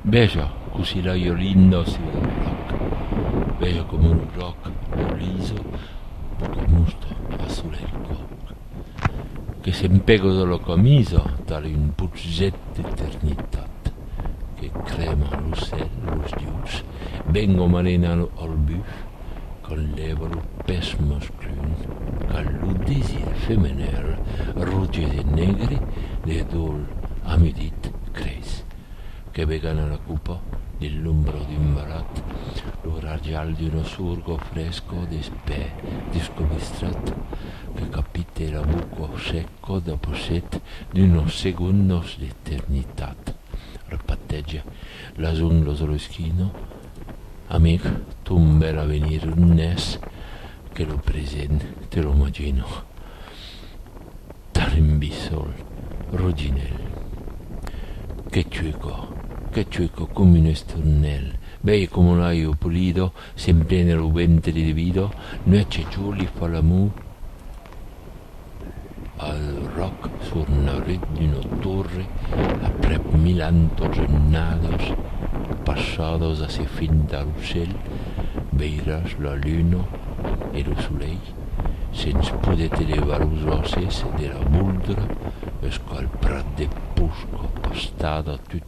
Veja, cossí la Iolinda se vei un lòc. Veja coma lo jòc lo liso lo comusta a sola el còc, que se'n pegosa la camisa tale un potzet d'eternitat, que crèma lo cèl, los dieus, ben o malena lo albuf, quand lèvalo pès masculin cal lo desir femenèl roges e negre de dol a midit creis que ve gana la copa de l'ombra d'un malat lo rajal d'una sorgo fresco d'espè descobistrat que capite la boca seco dapusset d'unos segondos d'eternitat repatèja la zonglosoleskina Amic, ton bèl avenir non es que lo present, te lo magino. Tarimbissol, roginèl. Que chueco, que chueco com un esturnèl. Bèi como l'aio polido, s'emplena lo ventre de vido, nuèch e jorn li fa l'amor. Al ròc sur neurut d'una torre aprèp mil antos ennados passados a se frintar lo cèl, veiràs la luna e lo solelh sens poder te levar los òsses de la voldra eusqu'al prat de Pushko, pastada tut